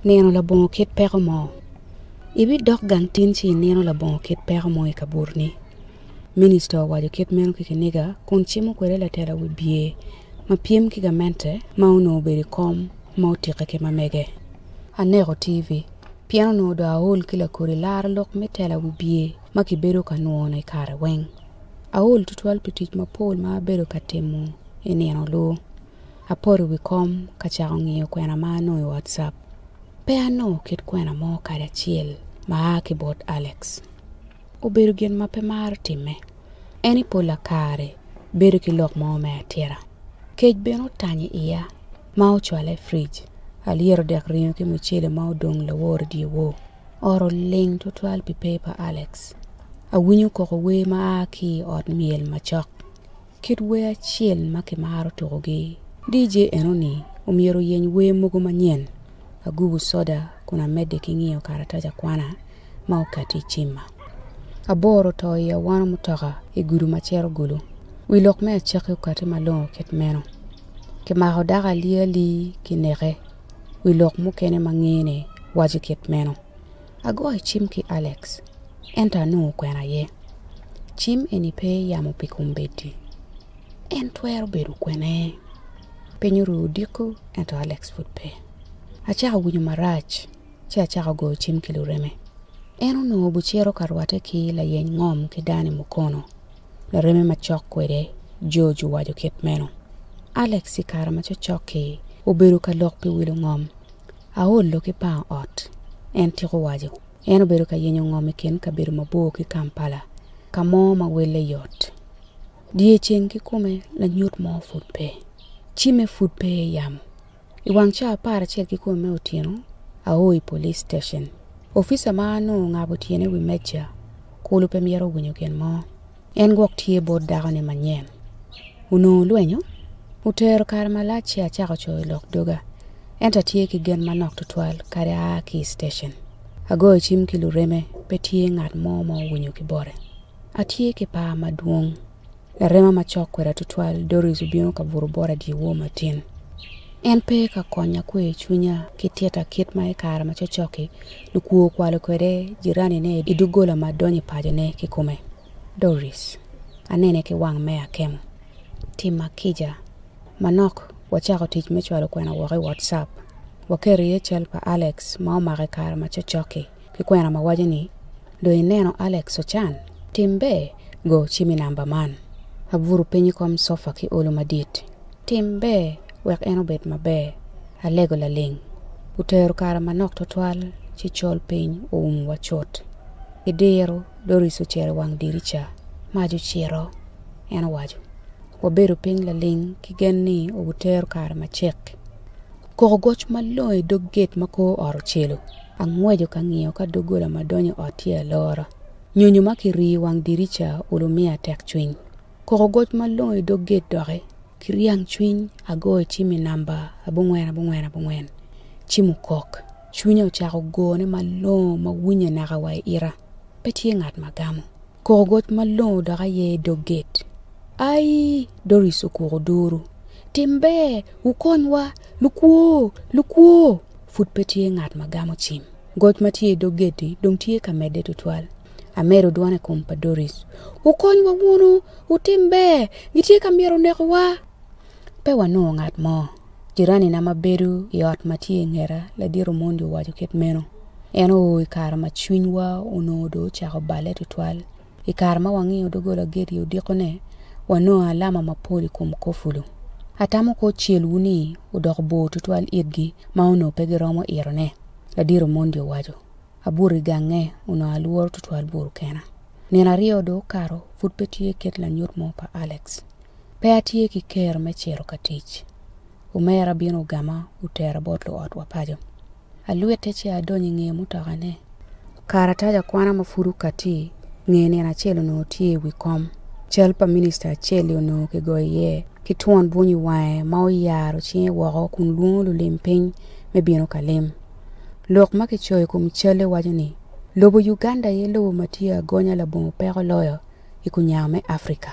Nino labongo kit peko mo. Ibidok gang tin ci inino labongo kit peko mo i kaburi-ni. Minista owaco kit meno ki kiniga kun cimo kwede latela wibye ma pyem ki gamente ma onongo obedo i kom ma otikke ki ma mege. Aneko TV pien onongo dong aol ki lakodi laro lok me tela wibye ma kibedo ka nwono i kare weng. Aol tutwal pi tic mapol ma abedo ka timo i nino-lu. Apoto i wi kom ka cako ngiyo kwena ma anongo i WhatsApp. Pe anongo kit kwena mo kadi acel ma a ki bot Alex. Obedo gin ma pe maro timme. En i polla kare bedo ki lok mo me atira. Kec bene otanyo i iya ma ocwala i frij. Alyero dek ringo ki mucele ma odong lawor i dye wor. Ot oling twatwal pi pe pa Alex. Awinyo koko wer ma a ki i ot myel macok. Kit wer acel ma kimaro tukogi. DJ enoni omyero oyeny wer mogo manyen. Agubo soda kun amedde ki ngiyo karatac akwana ma okati i cimma. Abor oto i awano mutoka i gudu ma cito Gulu. Wi lok me acakki okati malongo kit meno. Kimako dako alia li ki neke. Wi lok mukene ma ngene waco kit meno. Agoyo cim ki Alex, ento anongo kwena aye. Cim eni pe yamo pi kombeddi. En twero bedo kwene? Piny oru odiko, ento Alex pud pe. Acako winyo marac, ci acako goyo cim ki lureme. En onongo bucito ka rwatte ki layeny ngom ki Danny Mukono, lareme macok kwede, George owaco kit meno. Alex i kare ma cocok-ki obedo ka lok pi wilo ngom, Aolo ki pango ot, en tika owaco. En obedo ka yenyo ngom i kin kabedo mabor ki Kampala, ka mo ma welle yot. Dyeceng kikome lanyut mo pud pe. Cimme pud pe i yamo. I wang ca apar acel kikome me otyeno, ao i police station. Opica ma onongo ongabo tyene i wi meja, kulu pe myero owinyo gin mo. En gwok tye bot dakoni manyen. Onongo lwenyo otero kare malac ci acako coyo lok doga, ento atye ki gen manok tutwal kadi aa ki i citecen. Agoyo cim ki lureme, pe tye ngat mo ma owinyo ki bote. Atye ki par madwong. Larema ma cok kweda tutwal, Doris obino ka buto bota dyewor matin. En pe ka konya kweyo cwinya ki tita kit ma i kare ma cokcok-ki Lukwo okwalo kwede jiranine i doggola ma donyo i pacone kikome. Doris, anene ki wang me akemo. Tim ma kica. Manok, wacako tic me cwalo kwena woko i WhatsApp. Waketo iye cal pa Alex ma omako i kare ma cokcok-ki, ki kwena ma waco ni, Dong ineno Alex Ochan? Tim ber, go cimi namba man. Abuto piny i kom cofa ki olo madit. Tim ber wek en obed maber. Alego laling. Otero kare manok twatwal ci col piny oumwa cut. Idiro doris ocero i wang dirica. Mac ocito, en owaco. Wabedo piny laling ki gen ni obitero kare macek. Koko goc malongo i dog gate ma kor ot ocelo. Angweco ka ngiyo ka doggola ma donyo i ot tye alora. Nyonyo ma kiriyo i wang dirica olo miya tekcwiny. Kok ogoc malongo i dog gate doki ki ryang cwiny agoyo cim i number abongwen abongwen abongwen cim okok. Cwinya ocako gone malongo ma winye naka wa i ita. Pe tye ngat ma gamo. Kok ogoc malongo dok aye i dog gate. Aii! Doris okuk oduru. Timbe! Wukonywa! Lukwo! Lukwo! Pud pe tye ngat ma gamo cim. Goc ma tye i dog geddi dong tye ka medde tutwal. Amedo dwona i kom pa Doris. Wukonywa wunu! Wutim ber! Gitye ka myero onekowa! Pe wanongo ngat mo. Jiranina ma bedo i ot ma tye i ngeta, ladit Omondi owaco kit meno. En oo i kare ma cwinywa onongo dong ocako balle tutwal. I kare ma wangiyo doggola geti odiko-ne, wanongo alama mapol i kom kofulo. Atamo kwo celwu-ni odoko bor tutwal itgi ma onongo pe giromo itone, Ladit Omondi owaco. Abuto i gange, onongo alworo tutwal bur kena. Nino aryo dong okato, pud pe tye kit lanyut mo pa Alex. Pe atye ki ker me cito ka tic. Omera obino ogama otera bot luotwa paco. Alwitte ci adonyo i nge mutokane. Karatac akwana ma pud okatti nge nino acel onongo tye i wi kom. Cal pa minista acel-li onongo kigoyo iye ki twon bwunyo i wange ma oyaro cinge woko kun lwongo lulim piny me bino ka lim. Lok ma kicoyo i kom cal-li waco ni, Lobo Uganda aye lobo ma tye agonya labongo peko loyo i kunyang me Afrika.